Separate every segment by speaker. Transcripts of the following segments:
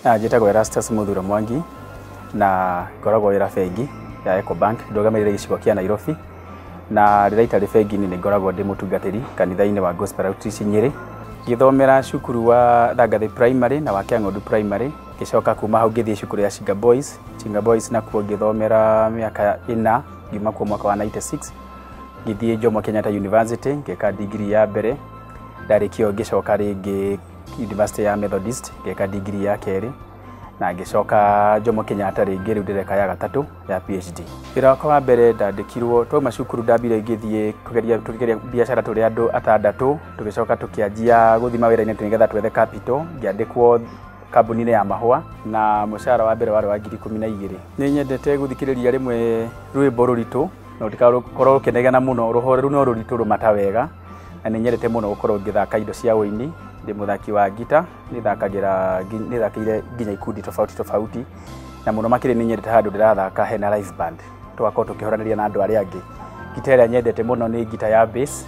Speaker 1: Ah, njĩtagwo erastus mũthuro mwangi na ngoragwo wĩra bengi ya ecobank ndũgamĩrĩire gĩcigo kĩa nairobi na rĩrĩa itarĩ bengi-inĩ nĩ ngoragwo ndĩ mũtungatĩri kanitha-inĩ wa gospel outreach nyĩrĩ ngĩthomera cukuru wa thangathĩ primary na wa kĩang'ondu primary ngĩcoka kuma hau ngĩthiĩ cukuru ya chinga boys chinga boys nakuo ngĩthomera mĩaka ĩna ngiuma kuo mwaka wa 96 ngĩthiĩ Jomo Kenyatta University ngĩka degree ya mbere ndarĩkia ũguo ngĩcoka rĩngĩ University ya Methodist ngĩka degree ya kerĩ na ngĩcoka Jomo Kenyatta rĩngĩ rĩu ndĩreka ya gatatũ ya PhD. Wĩra wakwa wa mbere ndandĩkirwo twauma cukuru ndambire ngĩthiĩ kũgeria tũkĩgeria biacara tũrĩ andũ atandatũ tũgĩcoka tũkĩanjia gũthima wĩra-inĩ nĩgetha twethe capital ngĩandĩkwo kambuni-inĩ ya mahũa na mũcara wa mbere warĩ wa ngiri ikũmi na igĩrĩ. Nĩ nyendete gũthikĩrĩria rĩmwe rwĩmbo rũritũ na ũtikakorwo ũkĩnegena mũno rũhoreru no rũritũ rũmata wega na nĩ nyendete mũno gũkorwo ngĩthaka indo cia ũini ndĩ mũthaki wa ngita nĩthakagĩra ngi- nĩthakĩire nginya ikundi tofauti tofauti na mũno makĩria nĩ nyendete handũ ndĩrathaka hena live band tũgakorwo tũkĩhoranĩria na andũ arĩa angĩ ngita ĩrĩa nyendete mũno nĩ ngita ya bass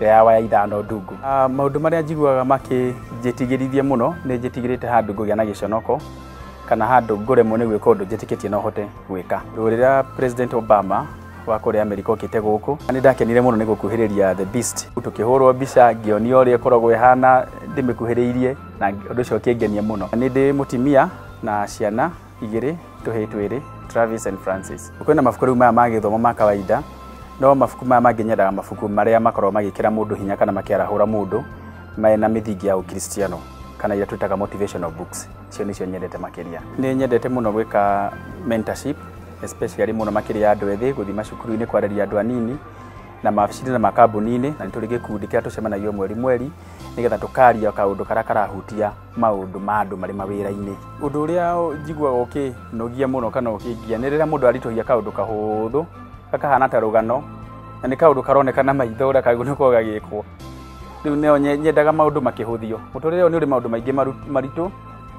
Speaker 1: ĩrĩa ya waya ithano ndungu Ah, maũndũ marĩa njiguaga makĩnjĩtigĩrithie mũno nĩ njĩtigĩrĩte handũ ngũgĩa na gĩconoko kana handũ ngũremwo nĩ gwĩka ũndũ njĩtĩkĩtie no hote gwĩka. Rĩrĩa President Obama wa kũrĩa Amerika okĩte gũkũ, nĩ ndakenire mũno nĩ gũkuhĩrĩria The Beast, tũkĩhũrwo mbica ngĩonia ũrĩa ĩkoragwo ĩhana ndĩmĩkuhĩrĩirie na ũndũ ũcio ũkĩngenia mũno. Nĩ ndĩ mũtimia na ciana igĩrĩ, tũhĩĩ twĩrĩ, Travis and Francis. Kwĩna mabuku rĩu maya ma gĩthomo ma kawaida, no mabuku maya mangĩ nyendaga mabuku marĩa makoragwo magĩkĩra mũndũ hinya kana makĩarahũra mũndũ mena mĩthingi ya ũkristiano kana iria twĩtaga motivational books. icio nĩcio nyendete makĩria nĩ nyendete mũno gwĩka mentorship especially mũno makĩria ya andũ ethĩ gũthiĩ macukuru-inĩ kwarĩria andũ anini na mabici-inĩ na makambuni-inĩ na nĩ tũrĩ gĩkundi kĩrĩa tũcemanagia mweri mweri nĩgetha tũkaria kaũndũ karĩa karahutia maũndũ ma andũ marĩ mawĩra-inĩ ũndũ ũrĩa njiguaga ũkĩnogia mũno kana ũkĩngia nĩ rĩrĩa mũndũ aritũhia kaũndũ kahũthũ kakahana ta rũgano na nĩ kaũndũ karoneka na maitho ũrĩa kagĩrĩirwo nĩ gũkorwo gagĩkwo rĩu nĩyo nye- nyendaga maũndũ makĩhũthio mũtũrĩre ũyũ nĩ ũrĩ maũndũ maingĩ maru- maritũ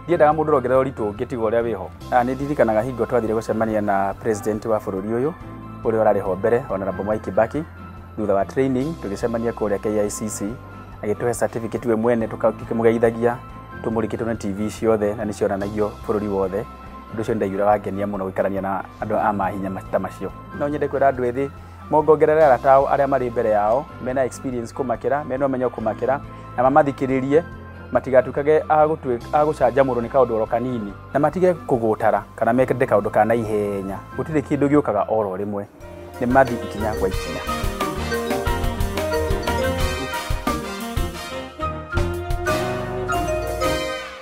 Speaker 1: ndiendaga mũndũ ũrongerera ũritũ ũngĩ tiga ũrĩa wĩho Ah, nĩ ndirikanaga hingo twathire gũcemania na president wa bũrũri ũyũ ũrĩa ũrarĩ ho mbere honorable mwai kibaki thutha wa training tũgĩcemania kũrĩa KICC agĩtũhe certificate we mwene tũka- tũkĩmũgeithagia tũmũrĩkĩtwo na tv ciothe na nĩ cionanagio bũrũri wothe ũndũ ũcio nĩ ndaiguire wangenia mũno gũikarania na andũ a mahinya ma- ta macio no nyende kwĩra andũ ethĩ mongongerere arata ao arĩa marĩ mbere yao mena experience kũmakĩra mena ũmenyo kũmakĩra na mamathikĩrĩrie matigatukage agũcanjamũrwo nĩ kaũndũ oro kanini na matige kũgũtara kana mekĩrĩte kaũndũ ka na ihenya gũtirĩ kĩndũ gĩũkaga oro rĩmwe nĩ mathi ikinya gwa ikinya